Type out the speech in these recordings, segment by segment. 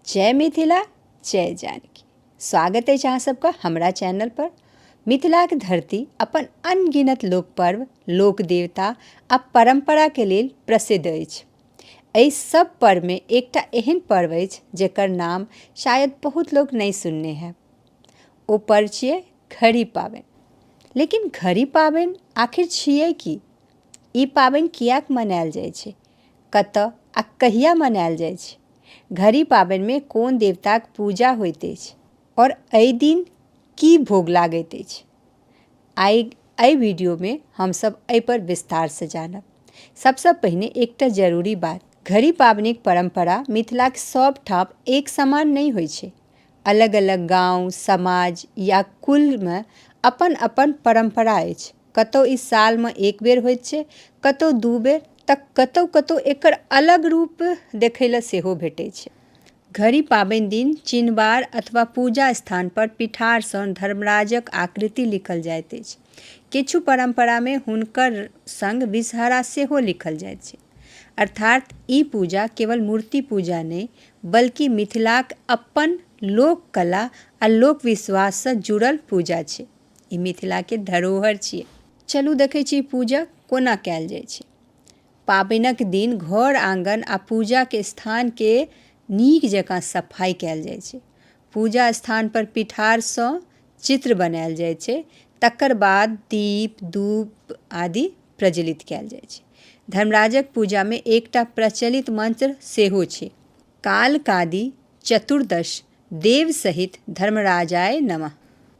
जय मिथिला जय जानकी स्वागत अछि अहाँ सबके हमरा चैनल पर मिथिलाक धरती अपन अनगिनत लोक पर्व लोक देवता आ परम्परा के लेल प्रसिद्ध अछि एहि सब पर्व में एकटा एहन पर्व अछि जेकर नाम शायद बहुत लोग नहीं सुनने हैं ओ पर्व छियै घड़ी पाबनि लेकिन घड़ी पाबनि आखिर छियै की ई पाबनि किएक मनायल जाइ छै कतऽ आ कहिया मनायल जाइत अछि? घड़ी पाबनि मे कोन देवताक पूजा होइत अछि और एहि दिन की भोग लागैत अछि? आइ एहि वीडियो मे हम सब एहि पर विस्तार सँ जानब। सबसँ पहिने एकटा जरूरी बात, घड़ी पाबनिक परंपरा मिथिलाक सब ठाम एक समान नहि होइत अछि। अलग-अलग गांव, समाज या कुल मे अपन-अपन परंपरा अछि। कतहु ई सालमे एक बेर होइ छै कतहु दू बेर तऽ कतहु कतहु एकर अलग रूप देखै लए सेहो भेटै छै घड़ी पाबनि दिन चिनबार अथवा पूजा स्थान पर पिठारसँ धर्मराजक आकृति लिखल जाइत अछि किछु परम्परामे हुनकर संग विषहरा सेहो लिखल जाइत छै अर्थात ई पूजा केवल मूर्ति पूजा नहि बल्कि मिथिलाक अपन लोक कला आ लोक विश्वाससँ जुड़ल पूजा छै ई मिथिलाके धरोहर छियै चलू देखै छी पूजा कोना कयल जाइ छै पाबनिक दिन घर आँगन आओर पूजाके स्थानके नीक जकाँ सफाइ कयल जाइ छै पूजा स्थानपर पीठारसँ चित्र बनायल जाइ छै तकर बाद दीप धूप आदि प्रज्वलित कयल जाइ छै धर्मराजक पूजामे एकटा प्रचलित मन्त्र सेहो छै कालकादि चतुर्दश देव सहित धर्मराजाय नमः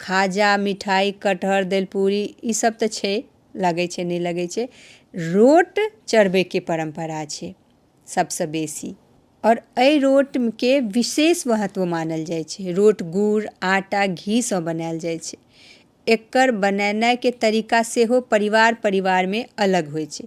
खाजा मिठाइ कटहर दलिपूड़ी ई सब तऽ छै लगै छै नहि लगै छै रोट चढ़बैके परम्परा छै सबसँ बेसी आओर एहि रोटके विशेष महत्व मानल जाइ छै रोट गुड़ आटा घीसँ बनायल जाइ छै एकर बनेनाइके तरीका सेहो परिवार परिवारमे अलग होइ छै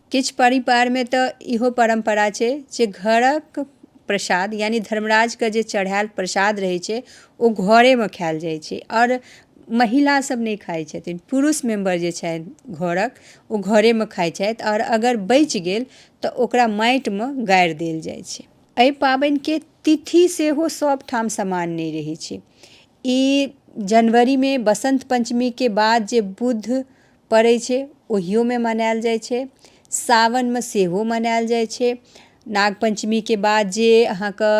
किछु परिवारमे तऽ इहो परम्परा छै जे घरक प्रसाद यानि धर्मराजके जे चढ़ायल प्रसाद रहै छै ओ घरेमे खायल जाइ छै आओर महिला सब नहि खाइ छथिन पुरुष मेम्बर जे छथि घरक ओ घरेमे खाइ छथि आओर अगर बचि गेल तऽ ओकरा माटिमे गाड़ि देल जाइ छै एहि पाबनिके तिथि सेहो सब ठाम समान नहि रहै छै ई जनवरीमे बसन्त पञ्चमीके बाद जे बुध पड़ै छै ओहियोमे मनायल जाइ छै सावनमे सेहो मनायल जाइ छै नाग पञ्चमीके बाद जे अहाँके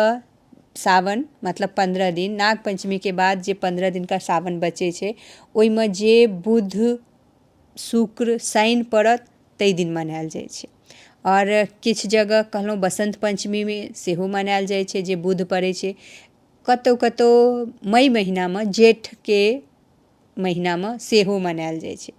सावन मतलब पन्द्रह दिन नाग पञ्चमीके बाद जे पन्द्रह दिनका सावन बचै छै ओइमे जे बुध शुक्र शनि पड़त तै दिन मनायल जाइ छै आओर किछु जगह कहलहुँ बसन्त पञ्चमीमे सेहो मनायल जाइ छै जे बुध पड़ै छै कतौ कतौ मइ महीनामे जेठके महिनामे सेहो मनायल जाइ छै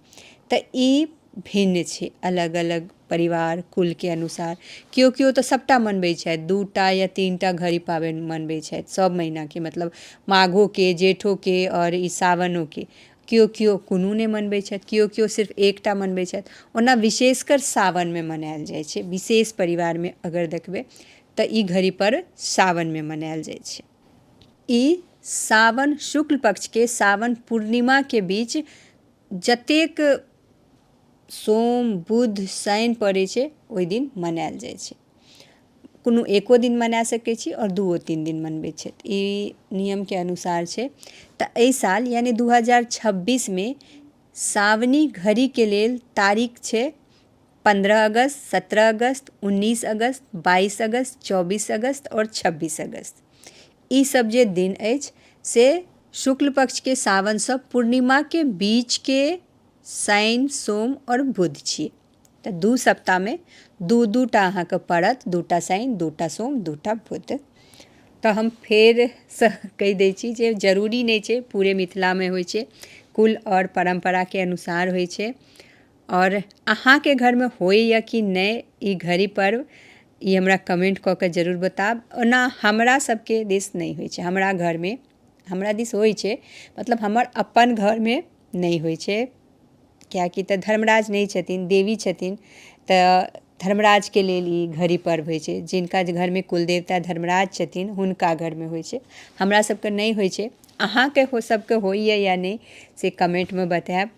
तऽ ई भिन्न छै अलग अलग परिवार कुलके अनुसार केओ केओ तऽ सभटा मनबै छथि दू टा या तीन टा घड़ी पाबनि मनबै छथि सभ महिनाके मतलब माघोके जेठोके आओर ई सावनोके केओ केओ कोनो नहि मनबै छथि केओ केओ सिर्फ एकटा मनबै छथि ओना विशेषकर सावनमे मनायल जाइ छै विशेष परिवारमे अगर देखबै तऽ ई घड़ी पर्व सावनमे मनायल जाइ छै ई सावन शुक्ल पक्षके सावन पूर्णिमाके बीच जतेक सोम बुध शनि पड़ै छै ओहि दिन मनायल जाइ छै कोनो एको दिन मना सकै छी आओर दूओ तीन दिन मनबै छथि ई नियमके अनुसार छै तऽ एहि साल यानि दू हजार छब्बीसमे सावनी घड़ीके लेल तारीख छै पन्द्रह अगस्त सत्रह अगस्त उन्नीस अगस्त बाइस अगस्त चौबीस अगस्त आओर छब्बीस अगस्त ई सब जे दिन अछि से शुक्ल पक्षके सावनसँ पूर्णिमाके बीचके शनि सोम आओर बुध छी तऽ दू सप्ताहमे दू दू टा अहाँके पड़त दू टा शनि दू टा सोम दू टा बुध तऽ हम फेरसँ कहि दै छी जे जरूरी नहि छै पूरे मिथिलामे होइ छै कुल आओर परम्पराके अनुसार होइ छै आओर अहाँके घरमे होइए कि नहि ई घड़ी पर्व ई हमरा कमेन्ट कऽ कऽ जरूर बताएब ओना हमरा सबके दिस नहि होइ छै हमरा घरमे हमरा दिस होइ छै मतलब हमर अपन घरमे नहि होइ छै किएकि तऽ धर्मराज नहि छथिन देवी छथिन तऽ धर्मराजके लेल ई घड़ी पर्व होइ छै जिनका जे घरमे कुलदेवता धर्मराज छथिन हुनका घरमे होइ छै हमरा सबके नहि होइ छै अहाँके सबके होइए या नहि से कमेन्टमे बताएब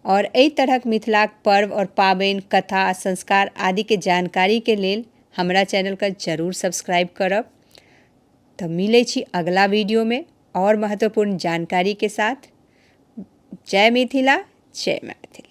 आओर एहि तरहके मिथिलाके पर्व आओर पाबनि कथा आओर संस्कार आदिके जानकारीके लेल हमरा चैनलके जरूर सब्सक्राइब करब तऽ मिलै छी अगिला वीडिओमे आओर महत्वपूर्ण जानकारीके साथ जय मिथिला जय मैथिली